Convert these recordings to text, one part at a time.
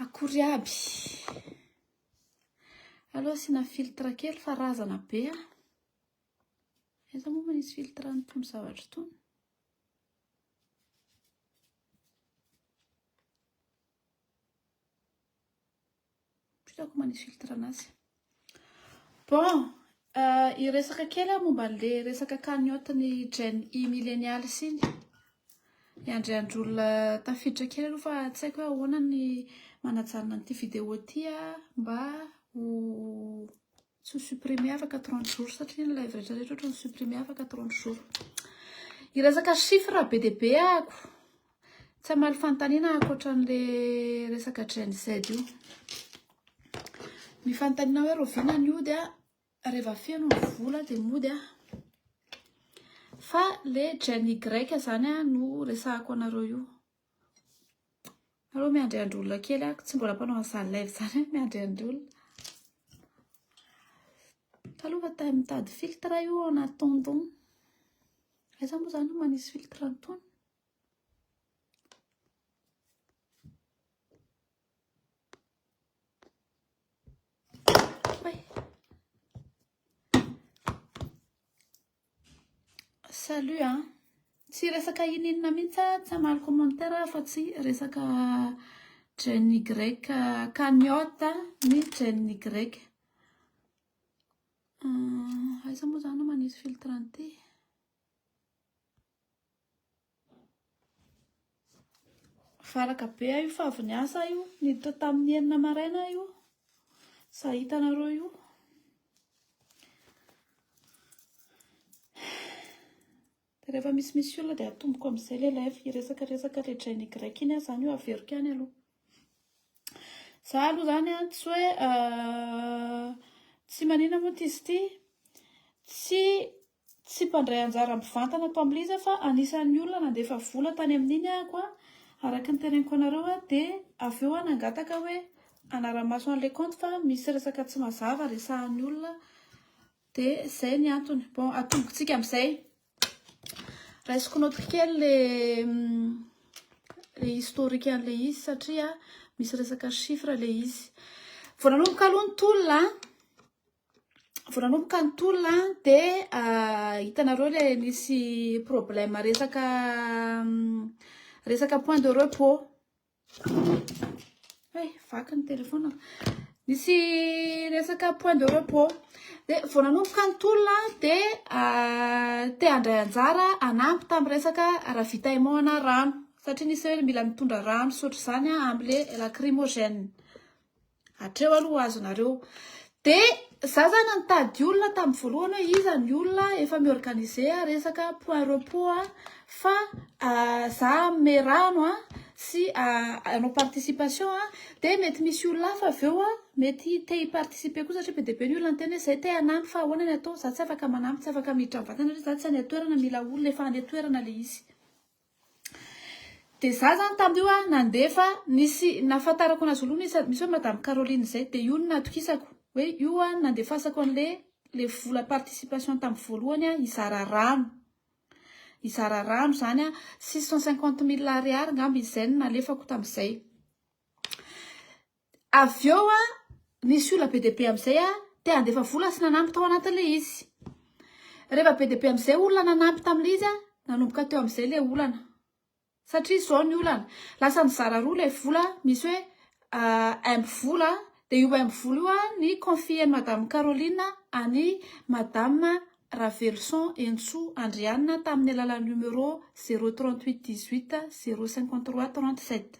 Akory aby. Allo asina filtre kely fa razana be a. Aiza moa manisy filtre any tony zavatra tony. Plutôt ko manisy filtre anazy. Bon, euh, hiresaka kely aho momba an'le resaka cagnotte ny Gen I millénial sy ny hiandry andr'olona tafiditra kely aloha fa tsy haiko hoe ahoana ny manajanona an'ity vidéo ity mba ho Tsy ho supprimer afaka 30 jours satria ny live rehetra rehetra ohatrany supprimer afaka 30 jours. Hiresaka chiffre be dia be ako. Tsy hamaly fanontaniana ako ohatran'le resaka Gen Z io. Ny fanontaniana hoe Rovina ny ody a, reva feno ny vola dia mody a. Fa le Gen Y zany a no resahako anareo io. Aleo miandry andry olona kely aho, tsy mbola mpanao an'izany live izany aho, miandry andry olona. Taloha fa tamin'ny mitady filtre io ao anaty tonton. Aiza moa izany no manisy filtre an'itony? Salut a! Tsy resaka ininona mihitsy aho, tsy hamaly commentaire aho fa tsy resaka Gen Y cagnotte ny Gen Y. Aiza moa izany no manisy filtre an'ity? Valaka be aho io fa avy niasa aho io, niditra tamin'ny enina maraina aho io. Za hitanareo io. Dia rehefa misy misy olona dia atomboko amin'izay ilay live, hiresaka resaka ilay drain Y iny aho izany io averiko ihany aloha. Za aloha izany an, tsy hoe euh, tsy manina moa ity sy ity, tsy Tsy mpandray anjara mivantana ato amin'ilay izy aho fa anisan'ny olona nandefa vola tany amin'iny ahako an, araka ny teneniko anareo an, dia avy eo aho nangataka hoe hanara-maso an'ilay kaonty fa misy resaka tsy mazava resahan'ny olona dia izay ny antony. Bon, atombontsika amin'izay. Raisiko notiky kely ilay le historique an'le izy satria misy resaka chiffre le izy. Vao nanomboka aloha ny tolona, vao nanomboka ny tolona dia hitanareo le nisy problème resaka resaka point de repos hey, vaky ny telefona nisy resaka point de repos dia vao nanomboka ny tolona dia te handray anjara anampy tamin'ny resaka ravitaillement ana rano satria nisy hoe mila mitondra rano sotr'izany amin'le lacrymogène Hatreo aloha azonareo. Dia za zany nitady olona tamin'ny voalohany hoe iza ny olona efa mi-organiser resaka point repos fa ah, za hanome rano a sy hanao participation a dia mety misy olona hafa avy eo mety te hi-participer koa satria be dia be ny olona niteny hoe izay te hanampy fa ahoana ny atao, za tsy afaka manampy, tsy afaka miditra am-vatana satria za tsy any an-toerana, mila olona efa any an-toerana ilay izy. Dia za zany tam io a nandefa nisy nafantarako anazy voalohany isan misy hoe madame Caroline zay dia io no natokisako hoe io a nandefasako anle le vola participation tam voalohany a hizara rano hizara rano zany a six cent cinquante mille ariary ngamba izay no nalefako tam zay Avy eo nisy olona be dia be amin'izay te handefa vola sy nanampy tao anatin'ilay izy. Rehefa be dia be amin'izay olona nanampy tamin'ilay izy, nanomboka teo amin'izay ilay olana. Satria izao ny olana, lasa nizara roa ilay vola, misy hoe M vola, dia io M vola io ny confier-n'i Madame Caroline an'i Madame Raveloson Hentsoa Andrianina tamin'ny alalan'ny numéro zéro trente-huit dix-huit zéro cinquante-trois trente-sept.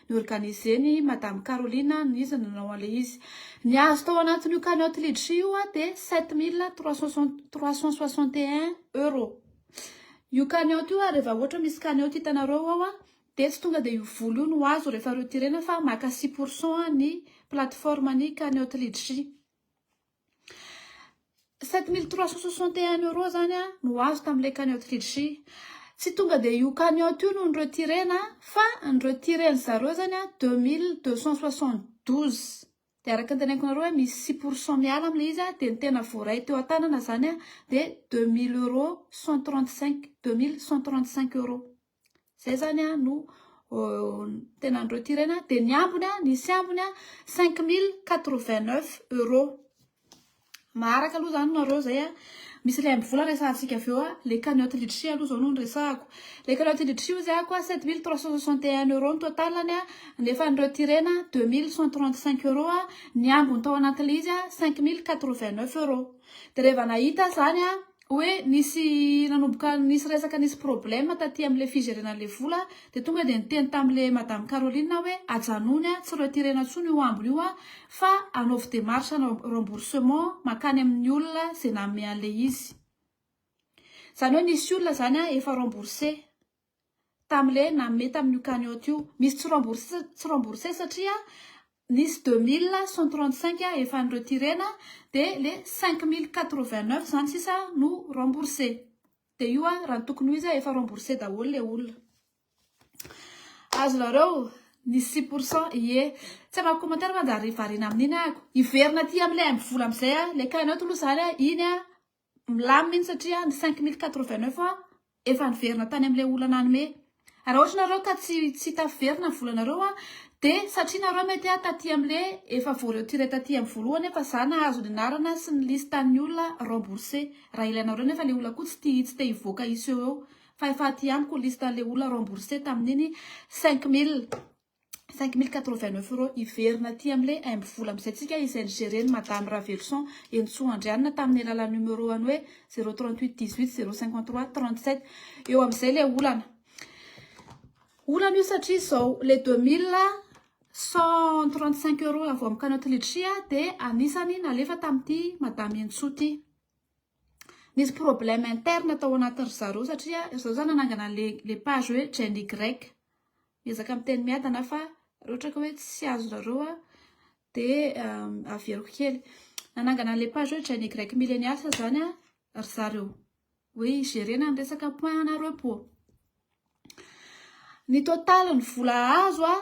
Ni-organiser-n'i Madame Caroline an, iza no nanao an'ilay izy. Ny azo tao anatin'io cagnotte Litchi io an, dia sept mille trois cent soixante, trois cent soixante et un euros. Io cagnotte io an, rehefa ohatra misy cagnotte hitanareo ao an, dia tsy tonga dia io vola io no azo rehefa retirena fa maka six pour cent ny plateforme-n'ny cagnotte Litchi. 7361 euros zany a no azo tamin'ilay cagnotte Litchi. Tsy tonga dia io cagnotte io no ni-retirer-na fa ni-retirer-ny zareo zany a 2272. Dia araka ny teneniko anareo hoe misy six pour cent miala amin'ilay izy a, dia ny tena voaray teo an-tanana zany a dia 2000 euros 135, 2135 euros. Zay zany a no tena ny retirena dia ny ambiny a nisy ambiny a 5089 euros maharaka aloha zany nareo zay a misy le amby vola resahantsika avy eo a le cagnotte litchi aloha zao no niresahako le cagnotte litchi ozy ako a 7361 euros ny totalany a nefa ny retirena 2135 euros a ny ambiny tao anatin'ilay izy a 5089 euros dia reva nahita zany a Hoe nisy nanomboka nisy resaka nisy problème taty amle figerena anle vola de tonga de niteny tamle madame Caroline aho hoe ajanony a tsy retirena tsony io ambiny io a fa anaovy demarche hanao remboursement makany aminy olona ze nanome anle izy zany hoe nisy olona zany a efa rembourse tamle nanome tamin'io cagnotte io. Misy tsy rembourse tsy rembourse satria nisy deux mille cent trente cinq efa ni retirena dia le cinq mille quatre vingt neuf izany sisa no rembourse. Dia io an raha ny tokony ho izy efa rembourse daholo le olona. Azonareo ny six pour cent ie. Tsy hanao commentaire fa anjary variana amin'iny ah. Hiverina aty amin'ilay haingo vola amin'izay ah. Le cagnotte aloha izany iny an Milamina mihintsy satria ny cinq mille quatre vingt neuf efa niverina tany amin'ilay olona nanome. Raha ohatra nareo ka tsy tsy tafiverina ny volanareo dia satria nareo mety ah taty amin'ilay efa voaretiré taty amin'ny voalohany efa za nahazo ny anarana sy ny listan'ny olona remboursé. Raha ilainareo nefa ilay olona koa tsy tia tsy te hivoaka hiseho eo fa efa aty amiko ny listan'ilay olona remboursé tamin'iny cinq mille. 5089 euros hiverina aty am le aimby vola amzay tsika izay nigereny madame Raveloson Henintsoa Andrianina taminy alalan numéro any hoe 038 18 053 37 eo amzay le olana olana io satria izao le 2000 135 euros avy am canot litri dia anisany nalefa tamity madame Henintsoa ty Nisy problème interne tao anatin ry zareo satria ry zareo za nanangana le le page hoe Jenny Grec. Miezaka miteny miadana fa raha ohatra ka hoe tsy azonareo aho de averiko kely. Nanangana le page hoe Jenny Grec Millenials zany ry zareo hoe hi-gérer-na ny resaka point ana repos. Ny total ny vola azo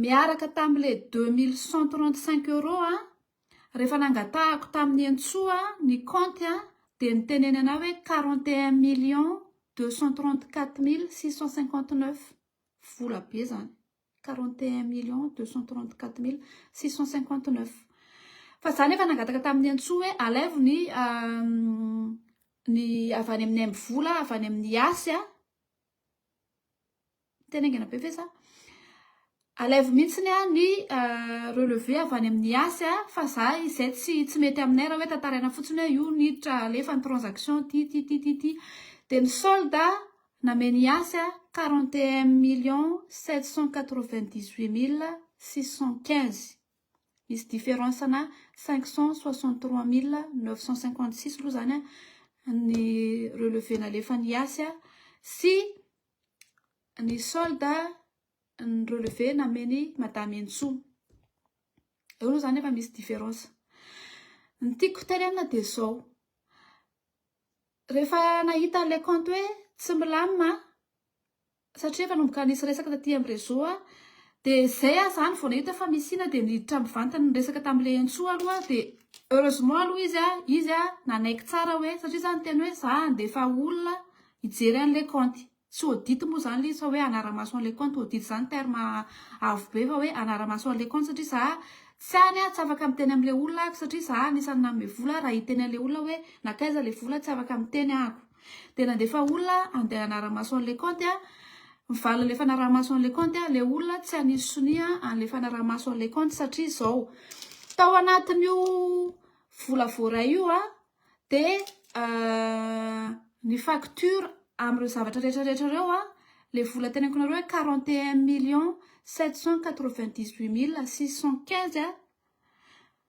miaraka tamin'ilay deux mille cent trente cinq euros a, rehefa nangatahako tamin'i Hentsoa ny kaonty a, dia niteneny anà hoe quarante et un millions deux cent trente quatre mille six cent cinquante neuf, vola be izany, quarante et un millions deux cent trente quatre mille six cent cinquante neuf. Fa izaho nefa nangataka tamin'i Hentsoa hoe alaivo ny ny avy any amin'ny aim-bola avy any amin'ny yas a, Tena haingana be ve za? Alaivo mihitsy ny ahy ny euh, relevé avy any amin'ny asy a, fa za izay tsy tsy mety aminay raha hoe tantaraina fotsiny hoe io niditra alefa ny transaction ty ty ty ty ty. Dia ny solde namen'i Yasy 41 millions 798 mille 615. Misy différence ana cinq cent soixante trois mille neuf cent cinquante six aloha izany ny relevé nalefan'i Yasy sy ny solde ny relevé namen'i Madame Henintsoa. Eo aloha izany efa misy différence. Ny tiako hoterena dia izao, rehefa nahita ilay kaonty hoe tsy milamina satria nanomboka nisy resaka taty am réseau a de zay ah zany vao nahita fa misy ina de niditra mivantana niresaka tam le entsoa aloha de heureusement aloha izy a izy a nanaiky tsara hoe satria za niteny hoe za handefa olona hijery anle kaonty tsy audit moa zany le izy fa hoe hanara-maso anle kaonty audit zany terme avo be fa hoe hanara-maso anle kaonty satria za tsy any ah tsy afaka miteny amle olona ako satria za anisan'ny nanome vola raha hiteny anle olona hoe nankaiza le vola tsy afaka miteny ako Dia nandefa olona handeha hanara-maso an'i Leconte aho. Ny valin'ilay fanaraha-maso an'i Leconte aho, ilay olona tsy hanisy sonia an'ilay fanaraha-maso an'i Leconte satria izao. Tao anatin'io vola voaray io dia ny facture amin'ireo zavatra rehetra rehetra ireo, ilay vola teneniko anareo hoe quarante et un millions sept cent quatre-vingt-dix-huit mille six cent quinze.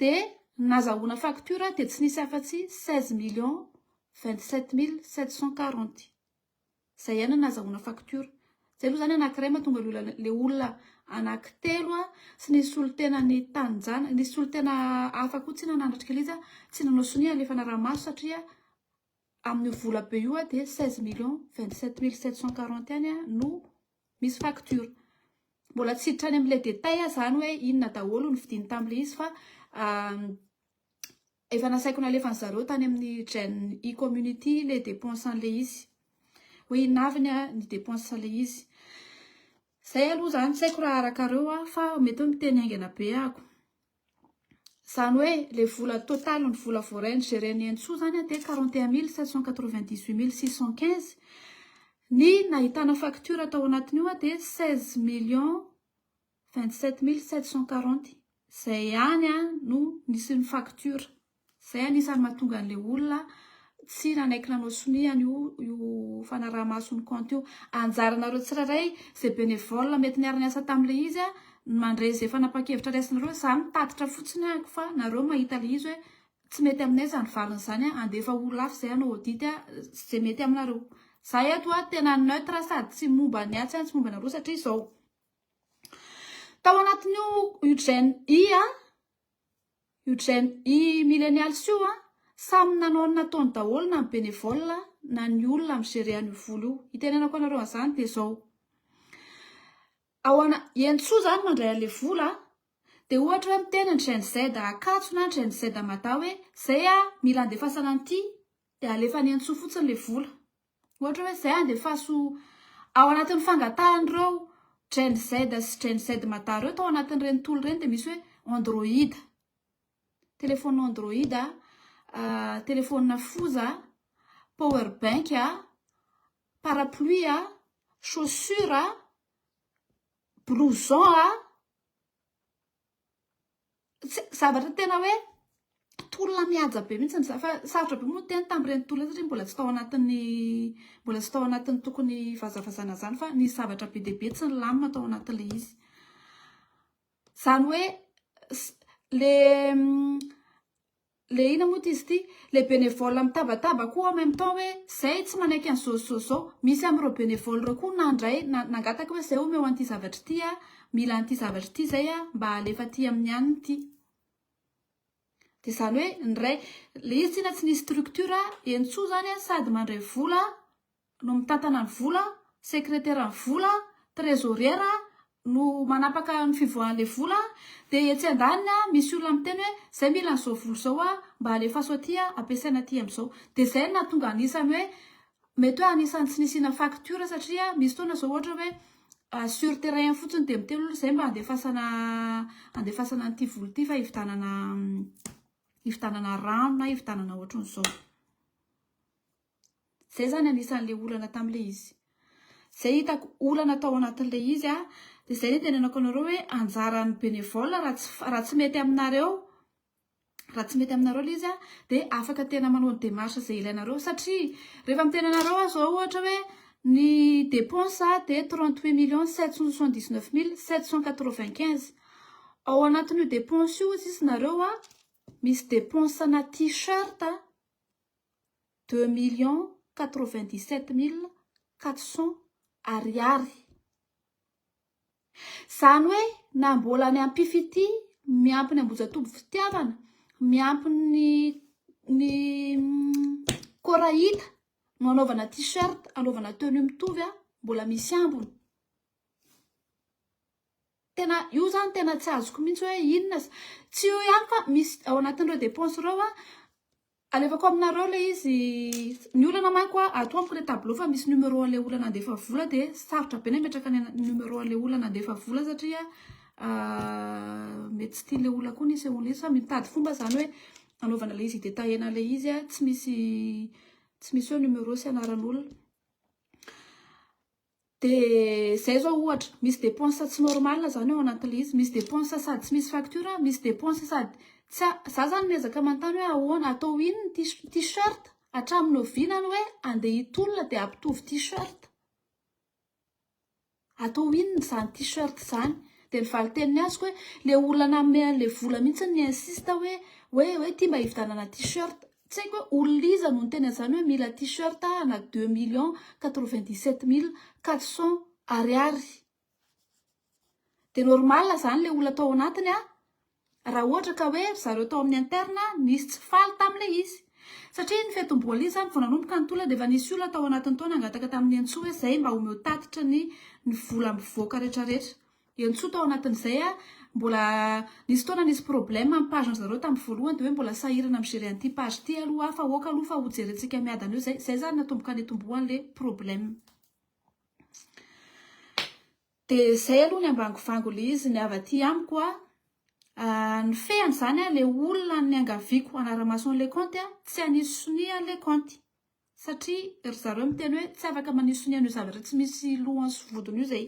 Dia nazahoana facture dia tsy nisy afa-tsy seize millions vingt sept mille sept cent quarante. Izay ihany no nazahoana facture. Izay aloha izany anankiray mahatonga ilay olona ilay olona anankitelo sy ny solontenan'ny taninjanaka, nisy solontena hafa koa tsy nanatrika ilay izy an, tsy nanao sonia alefa anaramaso satria amin'io vola be io dia seize millions vingt sept mille sept cent quarante ihany no Misy facture. Mbola tsy hiditra any amin'ilay détail aho izany hoe inona daholo ny vidiny tamin'ilay izy fa efa nasaiko nalefan'i zareo tany amin'ny Gen E community ilay dépense an'ilay izy. Hoe inona avy ny dépense an'ilay izy. Izay aloha izany, tsy haiko raha arakareo fa mety hoe miteny haingana be aho. Izany hoe ilay vola total ny vola voaray nigerian'i Henintsoa izany dia quarante et un mille sept cent quatre vingt dix huit mille six cent quinze. Ny nahitana facture tao anatin'io dia seize millions vingt sept mille sept cent quarante. Izay ihany no nisy ny facture. Izay anisany mahatonga an'ilay olona tsy nanaiky nanao sonia an'io io fanaraha-maso ny kaonty io. Anjaranareo tsirairay izay bénévole mety niara-niasa tamin'ilay izy ny mandray izay fanapahan-kevitra raisinareo. Izaho nitatitra fotsiny aho fa nareo mahita ilay izy hoe tsy mety aminay izany valiny izany, handefa olona hafa izay hanao audit izay mety aminareo. Izaho eto tena neutre sady tsy momba ny ahy tsy ahy tsy momba anareo satria izao. Tao anatin'io Eugène I a. Eugène, i millennials io an, samy nanao ny nataony daholo na ny bénévole na ny olona mi gérer an'io vola io. Hitenenako anareo an'izany dia izao, ao ana, i Henintsoa izany mandray an'ilay vola an, dia ohatra hoe miteny ny Gen Z Ankatso na ny Gen Z Mada hoe, izay an, mila andefasana an'ity, dia alefan'i Henintsoa fotsiny ilay vola. Ohatra hoe izay andefaso ao anatin'ny fangatahan'ireo Gen Z sy Gen Z mada ireo tao anatin'ireny tool ireny dia misy hoe Android, telefaonina Android, telefaonina foza, power bank, parapluie, chaussure, blouson. zavatra tena hoe tolona mihaja be mihitsy izany fa sarotra be moa ny teny tamin'ireny tolona ireny satria mbola tsy tao anatin'ny mbola tsy tao anatin'ny tokony hivazavazana izany fa nisy zavatra be dia be tsy nilamina tao anatin'ilay izy. Izany hoe le Le ina moa ty izy ty? Le benevole mitabataba koa en même temps hoe zay tsy manaiky an'i zao sy zao zao. Misy amin'ireo benevole ireo koa nandray na nangataka hoe zay omeo an'ity zavatra ity aho, mila an'ity zavatra ity zay aho mba alefa aty amin'ny any ity. Dia izany hoe ny iray, ilay izy tsinona tsy nisy structure, entsoa izany an, sady mandray vola, no mitantana ny vola, sekreteran'ny vola, trezôriera no manapaka ny fivoahan'ilay vola, dia etsy andaniny misy olona miteny hoe zay mila an'izao vola izao a, mba alefaso aty a, ampiasaina aty amin'izao. Dia izay no nahatonga anisan'ny hoe, mety hoe anisan'ny tsy nisiana faktiora satria misy fotoana izao ohatra hoe sur terrain fotsiny dia miteny olona izay mba andefasana andefasana an'ity vola ity fa hividanana hividanana rano na hividanana ohatran'izao. Zay zany anisan'le olana tamle izy. Zay hitako olana tao anatin'le izy a, de zay nitenenako anareo hoe anjaran'ny bénévole raha tsy raha tsy mety aminareo raha tsy mety aminareo le izy a de afaka tena manao ny démarche zay ilainareo satria rehefa miteny anareo aho zao ohatra hoe ny dépense a de trente huit millions sept cent soixante dix neuf mille sept cent quatre vingt quinze ao anatin'io dépense io ozy izy nareo a misy dépense ana tee-shirt a. deux millions quatre vingt dix sept mille quatre cents Ariary. Izany hoe na mbola ny ampifitia miampy ny ambojatoby fitiavana miampy ny ny korahita no anaovana t-shirt anaovana tenue mitovy a mbola misy ambiny tena io zany tena tsy azoko mihitsy hoe inona tsy io ihany fa misy ao anatin'ireo dépense ireo a Alevako aminareo ilay izy Ny olana manko a ato amiko ilay tableau fa misy numéro an'ilay olana handefa vola dia sarotra be ny hametraka ny numéro an'ilay olana handefa vola satria mety tsy tian'ilay olona koa ny hisehoan'ilay izy fa mitady fomba izany hoe hanaovana ilay izy hitetaena ilay izy a tsy misy tsy misy hoe numéro sy anaran'olona Dia izay zao ohatra, misy dépenses tsy normales zany ao anatin'ilay izy, misy dépenses sady tsy misy facture, misy dépenses sady tsy a, za zany miezaka manontany hoe ahoana, atao inn ny tis- t-shirt, hatramin'ny oviana ny hoe andeha hitolona dia ampitovy t-shirt, atao inn izany t-shirt izany, dia ny valin-teniny azoko hoe le olona nanome an'ilay vola mihitsy no mi-insiste hoe hoe hoe ty mba hividanana t-shirt, Tsy haiko hoe olona iza no niteny an'izany hoe mila t-shirt ana deux millions quatre-vingt-dix-sept mille quatre cents Ariary. Dia normal izany ilay olona tao anatiny an! Raha ohatra ka hoe ry zareo tao amin'ny interne nisy tsy faly tamin'ilay izy. Satria ny fetim-boaly izany vao nanomboka ny tolona dia efa nisy olona tao anatiny tao nangataka tamin'i Nenitsoa hoe izay mba omeo tatitra ny ny vola mivoaka rehetrarehetra. dia nitsoa tao anatin'izay aho, mbola nisy fotoana nisy problème amin'ny page an'zareo tamin'ny voalohany dia hoe mbola sahirana mi-gerer an'ity page ity aloha aho fa aoka aloha fa ho jerentsika miadana eo izay, izay zany natomboka nitomboan'le problème. Dia izay aloha ny ambangovango le izy, ny avy aty amiko a, nifehy an'izany aho, le olona niangaviako hanara-maso an'le kaonty a, tsy hanisy sonia le kaonty, satria ry zareo miteny hoe tsy afaka manisy sonia an'io zavatra tsy misy lohany sy vodiny io izay.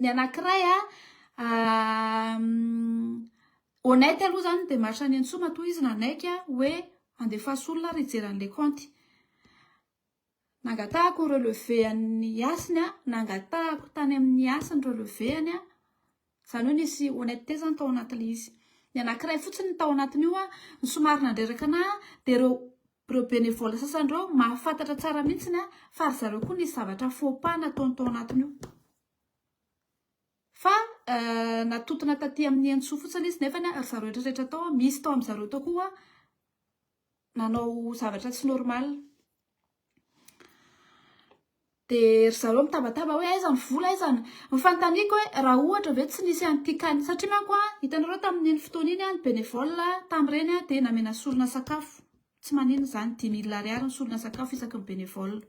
ny anankiray a honnête aloha zany dia maharitra any an-tsoa matoa izy nanaiky hoe andefaso olona ary hijery an'ilay kaonty. Nangatahako ny relevé an'ny hasiny aho, nangatahako tany amin'ny hasiny relevé-any aho. Izany hoe nisy honnêteté izany tao anatin'ilay izy. Ny anankiray fotsiny ny tao anatin'io ny somary nandreraka anà dia ireo ireo bénévole sasany ireo mahafantatra tsara mihitsy fa ry zareo koa nisy zavatra faux pas nataony tao anatin'io. Fa natontona taty amin'ny Henintsoa fotsiny izy nefa ry zareo rehetra rehetra tao misy tao amin'ny zareo tao koa nanao zavatra tsy normal. Dia ry zareo mitabataba hoe aiza ny vola, aiza ny... Ny fanontaniako hoe raha ohatra ve tsy nisy an'ity cas-ny, satria manko an, hitanareo tamin'iny fotoana iny an, ny bénévole tamin'ireny an, dia namena sorona sakafo, tsy maninona izany, dimy mille ariary ny sorona sakafo isaky ny bénévole.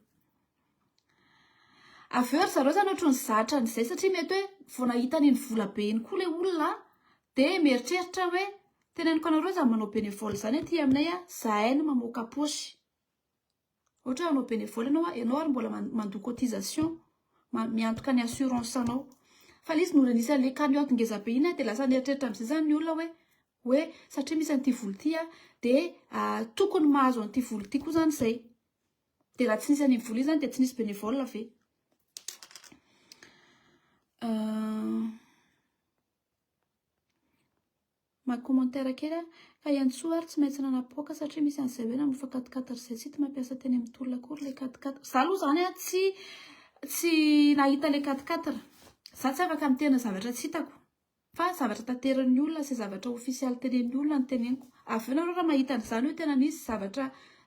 Avy eo ry zareo zany ohatran'ny zatra an'izay satria mety hoe vao nahita an'iny vola be iny koa ilay olona dia mieritreritra hoe teneniko anareo izany manao bénévole izany aty aminay a, izahay no mamoaka poche. Ohatra hoe hanao bénévole ianao a, ianao ary mbola mandoa cotisation, miantoka ny assurance anao. Fa ilay izy nolanisan'ilay camion ngeza be iny dia lasa nieritreritra amin'izay izany ny olona hoe hoe satria misy an'ity vola ity dia tokony mahazo an'ity vola ity koa izany izay. Dia raha tsy nisy an'iny vola iny zany dia tsy nisy bénévole ve? Maha commentaire kely aho fa iantsoa ary tsy maintsy nanapoaka satria misy an'izay hoe namofa quat-quat ry zay tsy hita mampiasa teny amin'ny tolona akory ilay quat-quat. Za aloha zany an tsy tsy nahita ilay quat-quat. Za tsy afaka miteny zavatra tsy hitako. Fa zavatra tanterin'ny olona sy zavatra ofisialy tenen'ny olona no teneniko. Avy eo nareo raha mahita an'izany hoe tena nisy zavatra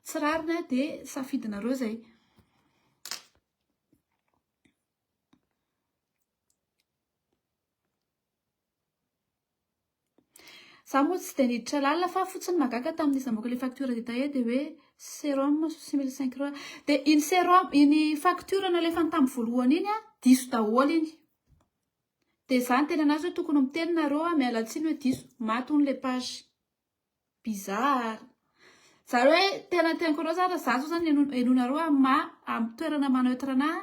tsy rariny dia safidinareo izay. Za moa tsy dia niditra lalina fa fotsiny magaga tamin'izy namoaka ilay facture détaillée dia hoe sérum souci mille cinq roi. Dia iny sérum iny facture nalefany tamin'ny voalohany iny diso daholo iny. Dia za niteny an'azy hoe tokony miteny nareo a, miala tsiny hoe diso, maty hono le page. Bizarre. Zany hoe tena teny koa zany raha za zao zany heno henonareo amin'ny maha amin'ny toerana maha neutre anahy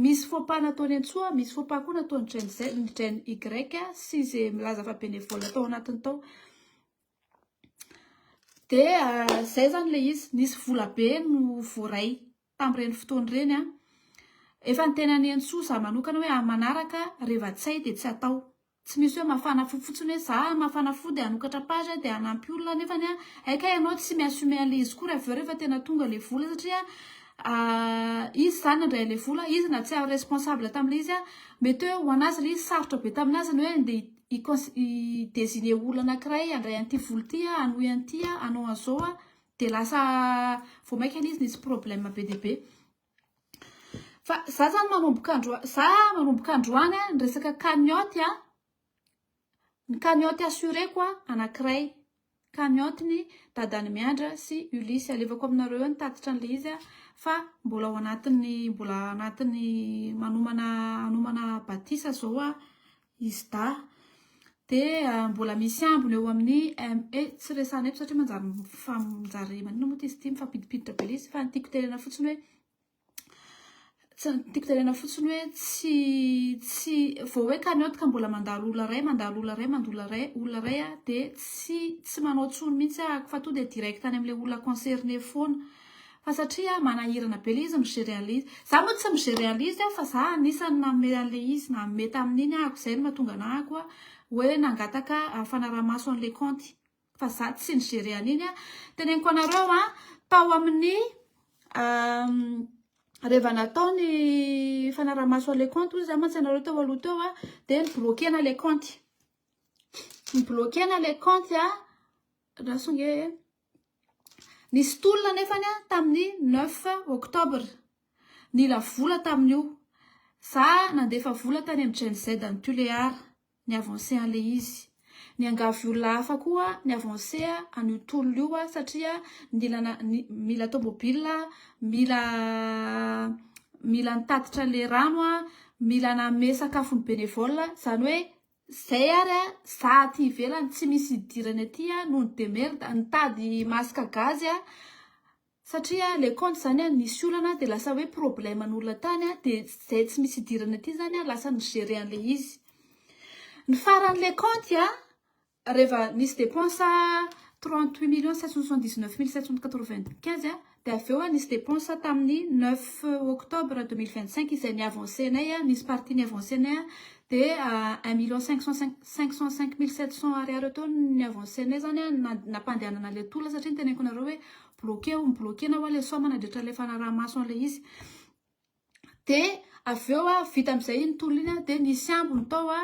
misy faux pas nataony antsoa a, misy faux pas koa nataony dren z ny dren y sy ze milaza fa bénévole tao anatiny tao. Dia zay zany le izy, nisy vola be no voaray tamin'ireny fotoana ireny an! Efa ny tenan'i Hensoa zah manokana hoe amin'ny manaraka re Vatsay dia tsy atao. Tsy misy hoe mafana fo fotsiny hoe zah mafana fo dia hanokatra page aho dia hanampy olona nefany an! hay kay ianao tsy mi-assumer an'ilay izy koa raha avy eo rehefa tena tonga ilay vola satria izy izany nandray an'ilay vola, izy na tsy aho responsable tamin'ilay izy an! mety hoe ho an'azy ilay izy sarotra be tamin'azy ny hoe andeha hi-cons-, hi-designer olona anankiray handray an'ity vola ity an, hanohy an'ity an, hanao an'izao an! Dia lasa vao maika izy nisy problème be dia be. Fa za zany manomboka androany, za manomboka androany a, ny resaka cagnotte a, ny cagnotte assuré-ko a, anankiray, cagnotte-n'i dadan'i Miandra sy Ulysse. Alevako aminareo eo ny tatitra an'ilay izy a, fa mbola ao anatin'ny, mbola ao anatin'ny manomana, hanomana batisa zao aho. Isda, dia mbola misy ambiny eo amin'ny ME, tsy resahana eto satria manjary mifa- manjary maninona moa ity izy ity, mifampidipiditra be ilay izy fa ny tiako tenenana fotsiny hoe, tsy ny tiako tenenana fotsiny hoe tsy tsy vao hoe cagnotte ka mbola mandalo olona iray, mandalo olona iray, mandalo olona iray, olona iray aho dia tsy tsy manao intsony mihitsy aho fa tonga dia direct any amin'ilay olona concerné foana. Fa satria manahirana be le izy mi-gere an'le izy. Za moa tsy mi-gere an'le izy fa za anisany nanome an'le izy, nanome tamin'iny aho ko zay no mahatonga anah ko hoe nangataka fanarahamaso an'le kaonty. Fa za tsy ni-gere an'iny a. Teneniko anareo a, tao amin'ny reva natao ny fanarahamaso an'le kaonty hoy za mantsy anareo teo aloha teo a, de ni-bloquena le kaonty. Ni-bloquena le kaonty a, raha songe e. Nisy tolona anefany tamin'ny 9 Octobre. Nila vola tamin'io. Za nandefa vola tany amin'ny Gen Z an'i Tuléar, ny avancé an'ilay izy. Niangavy olona hafa koa ny avancé an'io tolona io satria nila mila tomobila, mila mila nitatitra le rano, mila nanome sakafo ny bénévole, zany hoe Zay ary a, za aty ivelany tsy misy idirany aty a noho ny demerda, nitady masque gazy aho satria le compte zany a nisy olana de lasa hoe problème an'olona tany a de zay tsy misy idirany aty zany a lasa ni-gerer an'le izy. Ny faran'le compte a reva nisy depense trente huit millions sept cent soixante dix neuf mille sept cent quatre vingt quinze a. Dia avy eo a, nisy depense a tamin'ny neuf octobre deux mille vingt cinq izay ni-avancer-nay a, nisy partie ni-avancer-nay a, dia un million cinq cent cinq, cinq cent cinq mille sept cent ariary eo teo no ni-avancer-nay izany a, na- nampandehanana ilay tolona satria niteneniko anareo hoe bloquer ou mi-bloquer na hoe ilay somme nandritra ilay fanaraha-maso an'ilay izy. Dia avy eo a, vita amin'izay iny tolona iny a, dia nisy ambiny tao a,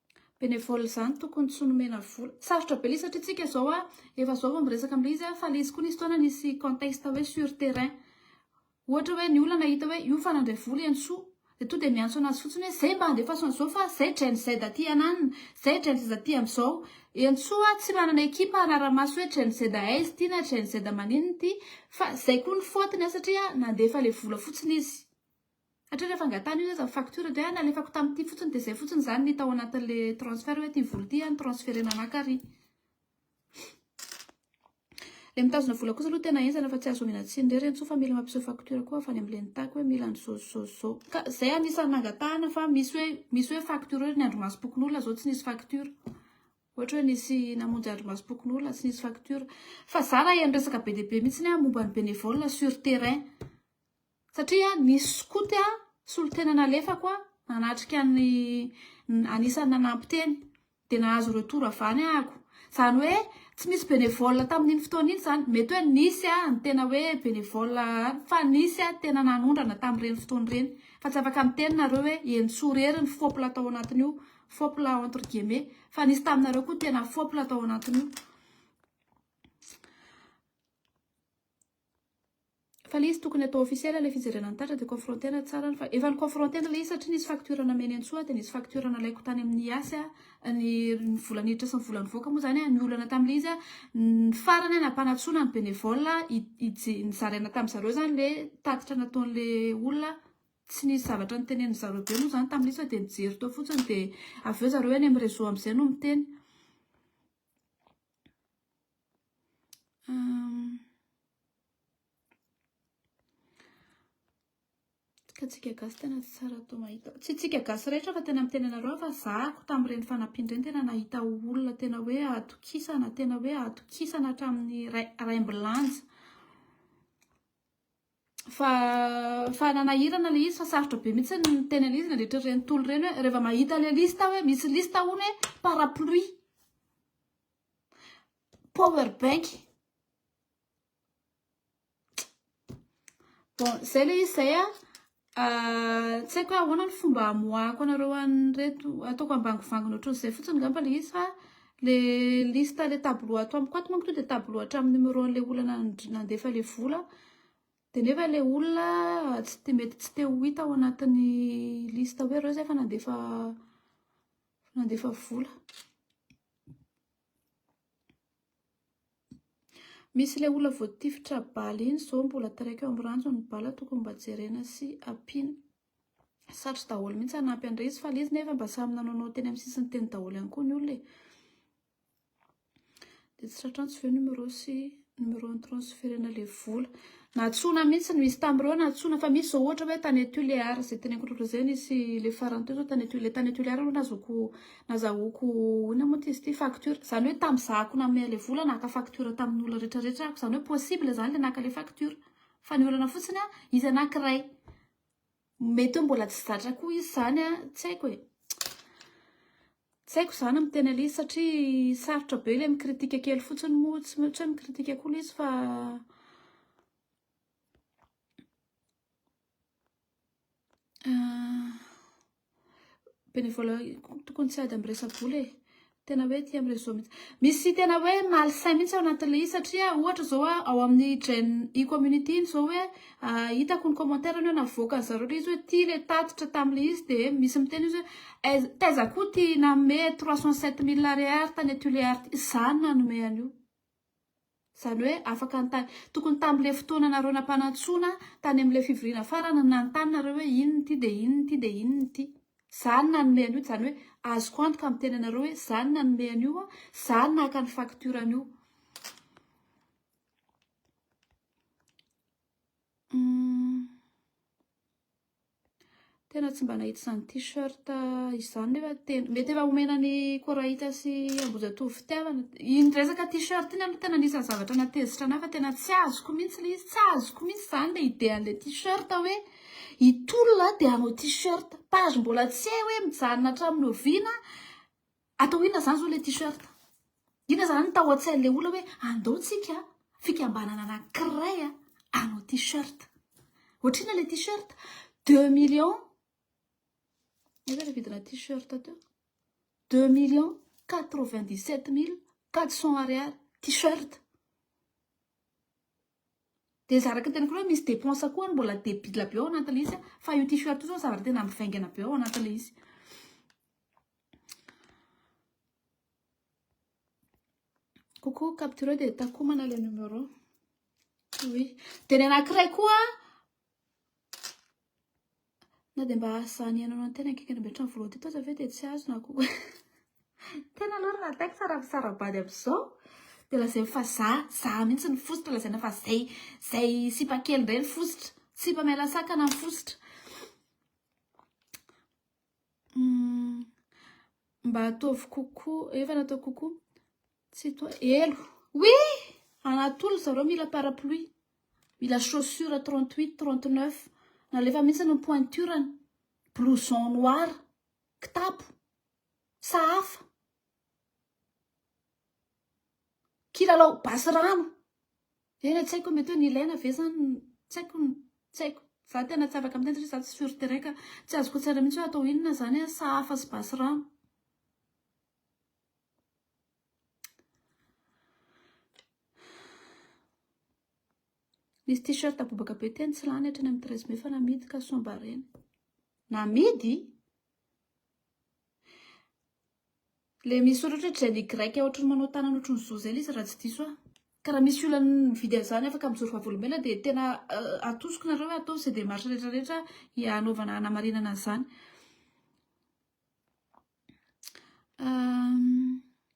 Benevole izany tokony tsy nomena vola. Sarotra be ilay satria tsika izao a, efa zao vao miresaka amin'ilay izy a, fa ilay izy koa nisy fotoana nisy contexte hoe sur terrain. Ohatra hoe ny olana hita hoe io fa nandray vola i Hanisoa, dia tonga dia miantso anazy fotsiny hoe zay mba andefaso an'izao fa zay Gen Z aty hananina, zay Gen Z aty amin'izao. I Hanisoa tsy manana ekipa hanara-maso hoe Gen Z aiza ity na Gen Z maninona ity fa zay koa ny faute-ny a satria nandefa ilay vola fotsiny izy. Hatrany hafangatana io aza ny facture dia nalefako tamin'ity fotsiny dia izay fotsiny izany ny tao anatin'ilay transfert hoe ity vola ity no transferena anà kary. Ilay mitazona vola kosa aloha tena henjana fa tsy azo omena tsiny irery intsony fa mila mampiseho facture koa avy any amin'ilay nitako hoe mila an'izao izao izao. Ka izay anisan'ny nangatahana fa misy hoe misy hoe facture hoe ny andrimasom-pokonolona izao tsy nisy facture. Ohatra hoe nisy namonjy andrimasom-pokonolona tsy nisy facture. Fa izaho raha heno resaka be dia be mihitsy aho momba ny bénévole sur terrain. Satria nisy skoto solontena nalefako nanatrika ny anisan'ny nanampy teny dia nahazo retour avy any ahako. Izany hoe tsy misy bénévole tamin'iny fotoana iny izany. Mety hoe nisy ny tena hoe bénévole fa nisy tena nanondrana tamin'ireny fotoana ireny. Fa tsy afaka miteny nareo hoe Henintsoa irery ny fopla tao anatin'io, fopla entre guillemets, fa nisy taminareo koa tena fopla tao anatin'io. Fa le izy tokony atao officiel le fijerena ny tatra de confronter-na tsara ny fa efa ni-confronter-na le izy satria nisy facture nameny an'i Soa de nisy facture nalaiko tany amin'ny Yas a ny ny vola niditra sy ny vola nivoaka moa zany a ny olana tamin'le izy a ny farany a nampanatsoina ny benevole a i ije nizaraina tamin'ny zareo zany le tatitra nataon'le olona tsy nisy zavatra niteneniny zareo be moa zany tamin'le izy fa de nijery teo fotsiny de avy eo zareo eny amin'ny reseau am'zay no miteny Ka tsika gasy tena tsy tsara atao mahita. Tsy tsika gasy rehetra fa tena miteny anareo fa zahako tamin'ireny fanampiana ireny tena nahita olona tena hoe atokisana, tena hoe atokisana hatramin'ny raim-bilanja. fa fa nanahirana ilay izy fa sarotra be mihitsy ny teny an'izy izy nandritra ireny tolo ireny hoe rehefa mahita ilay lista hoe misy lista hono hoe parapluie power bank bon zay ilay izy zay a ah, tsy haiko hoe ahoana ny fomba amoahako anareo an'ireto ataoko ambangovangona ohatr'izay fotsiny ngamba ilay izy fa Le liste le tableau ato amiko ato manko tonga de tableau hatramin'ny numéro an'le olona nandefa le vola de nefa le olona tsy te- mety tsy te ho hita ao anatin'ny liste hoe reo zay efa nandefa nandefa vola. Misy le olona voatifitra bala iny zao mbola taraiko eo amin'ny ranjony ny bala tokony mba jerena sy ampiana. Satry daholo mihitsy hanampy an'i Rezy fa le izy nefa mba samy nanaonao teny amin'ny sisiny teny daholo ihany koa ny olona e. Dia tsy tratrantsy ve numéro sy numéro ny transferena le vola. Natsoina mihitsy no izy tamin'ireo natsoina fa misy izao ohatra hoe tany Tuléar izay teneniko loatra izay nisy le farany teo izao tany Tuléar tany Tuléar aloha nazoko nazahoko inona moa ty izy ity facture izany hoe tamin'ny zahako nanome ilay vola naka facture tamin'ny olona rehetra rehetra aho izany hoe possible izany ilay naka ilay facture fa ny olana fotsiny aho izy anankiray Mety hoe mbola tsy zatra koa izy izany an, tsy haiko e, tsy haiko izany amin'ny tena izy satria sarotra be ilay mi-critique kely fotsiny moa, tsy maintsy hoe mi-critique koa ilay izy fa Bénévolat tokony tsy ady amin'ny resa-bola e. Tena hoe aty amin'ny réseau mihitsy. Misy tena hoe malsain mihitsy ao anatin'ilay izy satria ohatra izao ao amin'ny Gen E community iny izao hoe hitako ny commentaire-ny hoe navoakan'i zareo ilay izy hoe ity ilay tatitra tamin'ilay izy dia misy miteny izy hoe taiza koa ity nanome trois cent sept mille ariary tany Tuléar ity. Izaho no nanome an'io. Izany hoe afaka nitany. Tokony tamin'ilay fotoananareo nampanantsoina tany amin'ilay fivoriana farany no nanontany nareo hoe inona ity dia inona ity dia inona ity. Za no nanome an'io, izany hoe azoko antoka miteny anareo hoe za no nanome an'io, za no naka ny facture an'io. Hum. Tena tsy mba nahita izany t-shirt izany nefa tena mety efa omena ny Korahita sy Ambohijatovo fitiavana. Iny resaka t-shirt iny aloha tena anisan'ny zavatra nahatezitra an'ahy fa tena tsy azoko mihitsy ilay izy, tsy azoko mihitsy izany ilay idéan'ilay t-shirt hoe hitolona dia hanao t-shirt. Page mbola tsy hay hoe mijanona hatramin'ny oviana. Atao inona zany zao le t-shirt? Inona zany tao antsain'le olona hoe andao tsika fikambanana anankiray hanao t-shirt? Ohatr'inona le t-shirt? Deux millions Eka le vidina t-shirt teo. Deux millions quatre vingt dix sept mille quatre cents ariary t-shirt. Dia izy araka ny teniko hoe misy dépense koa mbola debila be ao anatin'ilay izy fa io t-shirt io zao zavatra tena mivaingana be ao anatin'ilay izy. Coucou, capturé dia takomana le numéro. Oui. Dia ny anankiray koa na dia mba azany ianao ny tena akaiky an'be trano voalohany teto aza ve dia tsy azo na koa. Tena aloha raha ataiko tsara misara-bady amin'izao dia lazainy fa za, za mihitsy ny fositra lazaina fa zay, zay sipa kely indray ny fositra, sipa miala sakana ny fositra. Hum, mba ataovy coucou, efa natao coucou. Tsy toa, elo. Oui! Anatolo zareo mila parapluie, mila chaussures 38, 39. Nalefa mihitsy ny pointure-ny, blouson noir, kitapo, sahafa, kilalao basy rano. Tena tsy haiko hoe mety hoe nilaina ve zany ny, tsy haiko, tsy haiko. Za tena tsy afaka miteny satria za tsy sur terrain ka tsy azoko tsara mihitsy hoe atao inona zany an, saha afo sy basy rano. Nisy t-shirt bobaka be teny tsy lany hatrany amin'ny treize mai fa namidy ka soa mba reny. Namidy? Ilay misy soratra hoe Jenny Grec ohatry ny manao tanana ohatry ny zo izay ilay izy raha tsy diso aho. Ka raha misy olona mividy an'izany afaka mijoro vavolombelona dia tena atosiko nareo hoe ataovy izay démarche rehetra rehetra hanaovana hanamarinana an'izany.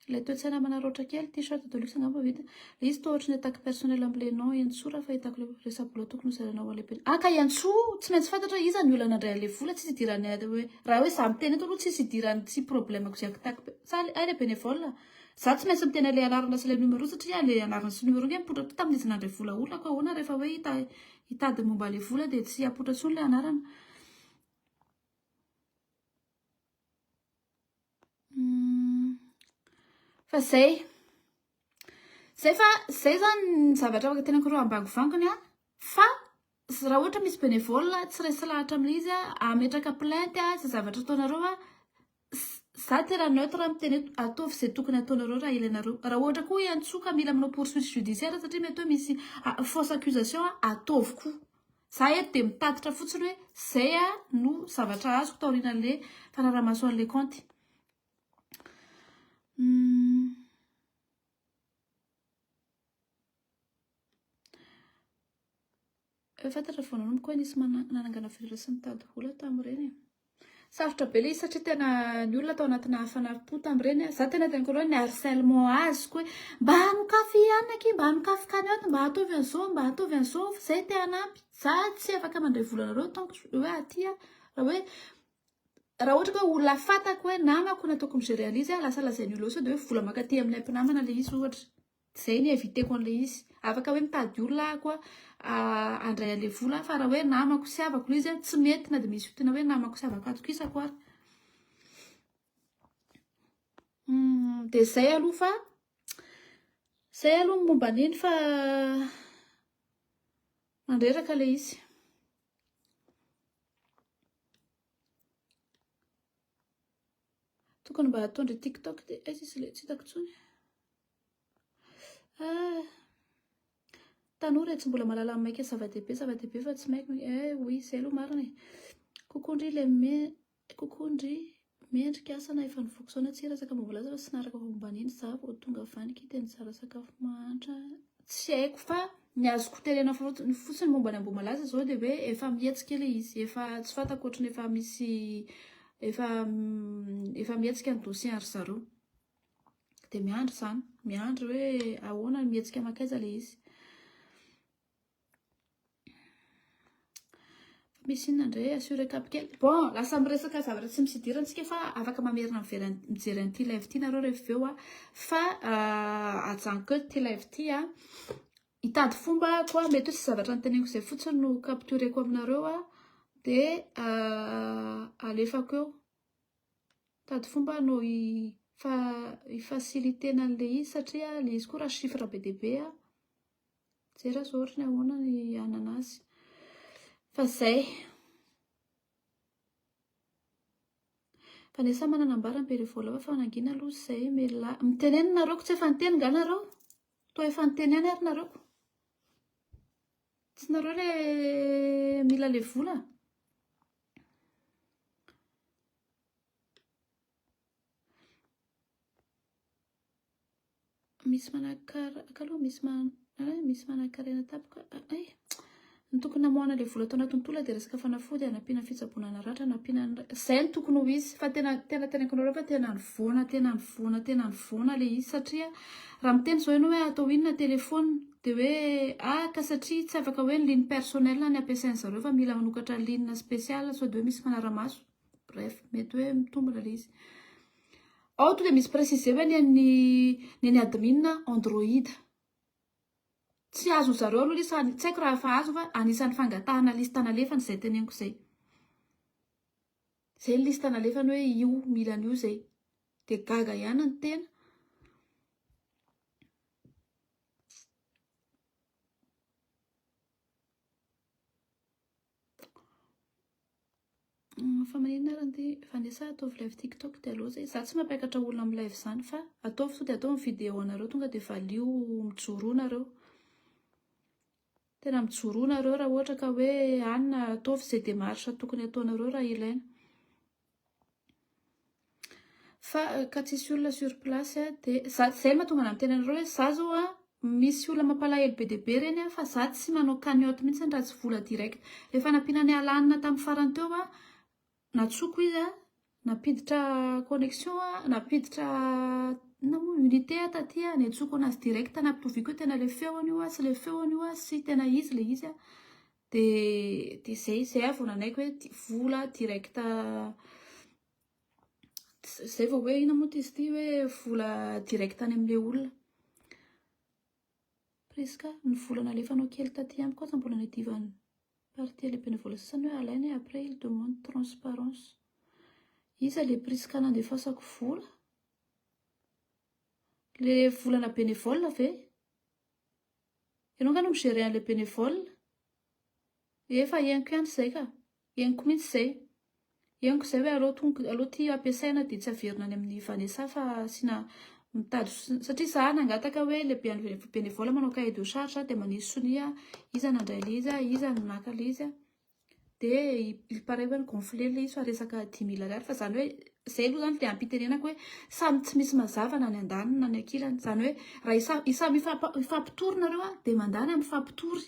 Ilay toe-tsaina manaraotra kely, t-shirt de luxe angamba vita. Izy toa ohatran'ny attaque personnelle ambolenao Iantsoa raha fahitako le resabola tokony ho zarainao any am-pianarana. Ah ka Iantsoa tsy maintsy fantatra hoe iza ny olana handray an'le vola, tsisy idiran'ny aide hoe raha hoe za miteny eto aloha tsisy idiran'ny tsy problème-ko ze attaque pe, sa hay le bénévole a? Za tsy maintsy miteny an'le anarana sy le numéro satria le anarana sy numéro nge mipoitra koa tamin'izy nandray vola olona ko ahoana rehefa hoe hita hitady momba le vola de tsy hapoitra tsony le anarana. Hmm. Fa zay. Zay fa zay zany ny zavatra afaka tenako reo ambangovangony a. Fa raha ohatra misy bénévole tsy resy lahatra amin'izy a, ametraka plainte a, zay zavatra ataonareo a, za tena neutre miteny hoe ataovy izay tokony ataonareo raha ilainareo. Raha ohatra koa hiantsoa ka mila manao poursuite judiciaire satria mety hoe misy fausse accusation a, ataovy koa. Za eto dia mitatitra fotsiny hoe zay no zavatra azoko taorian'le fanaramaso an'le kaonty. Efa fantatra vao nanomboka hoe nisy nanangana fihirera sy nitady vola tamin'ireny e. Sarotra be le izy satria tena ny olona tao anatina fanari-po tamin'ireny. Za tena tena kolo ny harcèlement azoko hoe mba hanokafy ihany aky, mba hanokafy cagnotte, mba ataovy an'izao, mba ataovy an'izao fa zay te hanampy. Za tsy afaka mandray vola anareo tant que hoe aty aho. Raha hoe raha ohatra ka olona fantako hoe namako nataoko mi-gérer an'izy, lasa lazain'ny olona hoe sao dia hoe vola mankaty amin'ilay mpinamana le izy ohatra. Izay ny inviteko an'ilay izy. Afaka hoe mitady olona aho koa handray an'ilay vola aho fa raha hoe namako sy havako ilay izy a, tsy mety na dia misy fitia na hoe namako sy havako atokisako ary. Dia izay aloha fa izay aloha ny momba an'iny fa mandreraka ilay izy. Tokony mba hatao ndry TikTok ty. Aiza izy ilay tsy hitako intsony. Ah! Tanora e, tsy mbola mahalala ny maika zava-dehibe, zava-dehibe fa tsy maika, eh oui, izay aloha marina e. Coucou ndry ilay me, coucou ndry mendrika asa na efa nivoaka sao na tsia resaka mba milaza fa tsy naharaka momba an'iny za vao tonga avy any k'ity nizara sakafo mahantra tsy haiko fa ny azoko tenena fotsiny fotsiny momba ny ambohimalaza zao dia hoe efa mihetsika ilay izy efa tsy fantako ohatran'ny efa misy efa efa mihetsika ny dossier ry zareo dia miandry izany miandry hoe ahoana ny mihetsika makaiza le izy misy inona indray assuré cap kely bon lasa miresaka zavatra tsy misy idirany tsika fa afaka mamerina mivery mijery an'ity live ity nareo rehefa avy eo a fa euh, ajanoko eo ty live ity a hitady fomba koa mety hoe tsy zavatra niteneniko izay fotsiny no captureko aminareo a dia euh, alefako eo Mitady fomba aho no hi-faciliter-na an'ilay izy satria ilay izy koa raha chiffre be dia be an, mijery aho izao ohatra hoe ahoana ny hanana azy. Fa izay. Fa sa manana ambara ny bere voalavo fa nangina aloha izay mialà. Mitenena nareo ko tsy efa niteny nga nareo? Toa efa niteny ihany ary nareo ko. Tsy nareo ilay mila ilay vola? misy manakara akaloha misy man eh, misy manakarena tapoka ah, eh ny tokony namoahana le vola tao anatin'ny tola dia resaka fanafody anampiana fitsaboana naratra anampiana zay ny tokony ho izy fa tena tena tena kanareo fa tena nivoana tena nivoana tena nivoana le izy satria raha miteny zao ianao hoe atao inona telefona Dia hoe, ah, ka satria tsy afaka hoe ny ligne personnel ny ampiasain-dry zareo fa mila manokatra ligne spécial sao dia hoe misy fanara-maso. Bref, mety hoe mitombina ilay izy. Ao tonga dia misy préciser hoe ny an'ny ny an'ny admin Android. Tsy azon'ny zareo aloha ilay izy, tsy haiko raha efa azo fa anisan'ny fangatahana liste nalefany izay teneniko izay. Izay ny liste nalefany hoe io mila an'io izay. Dia gaga ihany ny tena. fa maninona ary anty fa nde sa ataovy live tiktok dia aleo zay za tsy mampiakatra olona amin'ny live zany fa ataovy sao dia ataovy ny vidéo anareo tonga dia valio mijoroa nareo Tena mijoroa nareo raha ohatra ka hoe ann ataovy izay démarche tokony ataonareo raha ilaina. Fa ka tsisy olona sur place a de za zay mahatonga anah miteny anareo hoe za zao an misy olona mampalahelo be dia be reny an fa za tsy manao cagnotte mihitsy raha tsy vola direct. Ilay fanampiana ny alanina tamin'ny farany teo an. Natsoko izy an, nampiditra connexion an, nampiditra inona moa unité an taty an, niantsoko anazy direct nampitoviako hoe tena ilay feony io an sy ilay feony io an sy tena izy ilay izy an, dia dia izay, izay aho vao nanaiky hoe di- vola direct izay vao hoe inona moa ty izy ity hoe vola direct any amin'ilay olona. Prisca, ny vola nalefanao kely taty amiko aza mbola niadivan'ny partie lehibe ny vola sasany hoe alaina e après il demande transparence. Iza le Prisca nandefasako vola? Le volana bénévole ve? Ianao nga no mi-gerer an'le bénévole? Efa henoko ihany izay ka! Henoko mihitsy izay! Henoko izay hoe aleo tonga, aleo ity ampiasaina dia tsy averina any amin'i Vanessa fa asiana mitady sonia, satria izaho nangataka hoe ilay be- bénévole manao cahier de charge aho dia manisy sonia iza nandray ilay izy, iza no naka ilay izy, dia il parait hoe ni-gonfler ilay izy fa resaka dimy mille ariary fa izany hoe, izay aloha izany dia am-pitenenako hoe samy tsy misy mazava na ny andaniny na ny ankilany, izany hoe raha isa- isa- mifampitory nareo dia mandany ary mifampitory.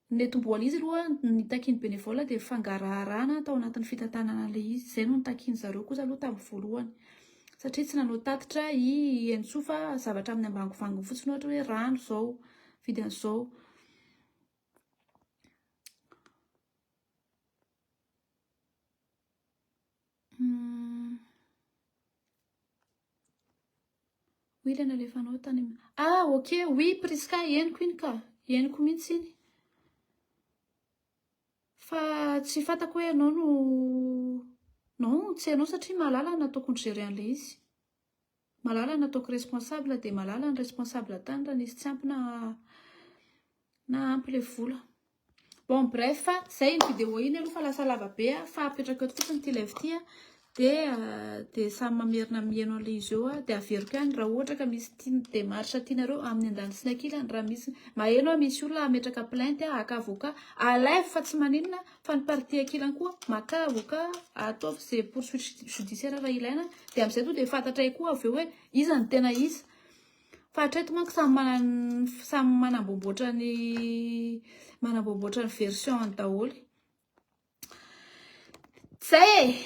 Ny tomboan'izy aloha ny takian'ny bénévole dia fangaraharana tao anatin'ny fitantanana an'ilay izy, izay no nitakian'ny zareo kosa aloha tamin'ny voalohany satria tsy nanao tatitra i Henintsoa fa zavatra amin'ny ambangovangony fotsiny ohatra hoe rano izao, vidy an'izao. Oui ilay nalefanao tany am... Ah ok oui Prisca henoko iny ka, henoko mihitsy iny. Fa tsy fantako hoe ianao no non tsy ianao satria Malala no nataoko ni-gérer an'ilay izy. Malala no nataoko responsable dia Malala no responsable tany raha nisy tsy ampy na ampy ilay vola. Bon bref fa zay iny vidéo iny aloha fa lasa lava be a fa apetrako eto fotsiny ity live ity a de de samy mamerina miheno an'le izy eo aho de averiko ihany raha ohatra ka misy tian- démarche tianareo amin'ny andaniny sy ny ankilany raha misy maheno aho misy olona hametraka plainte a haka avocat à live fa tsy maninona fa ny partie ankilany koa maka avocat ataovy ze poursuite judiciaire raha ilaina de am'zay tonga de fantatray koa avy eo hoe iza no tena iza Fa hatreto manko samy manana samy manamboamboatra ny manamboamboatra ny version-ny daholo. Zay e!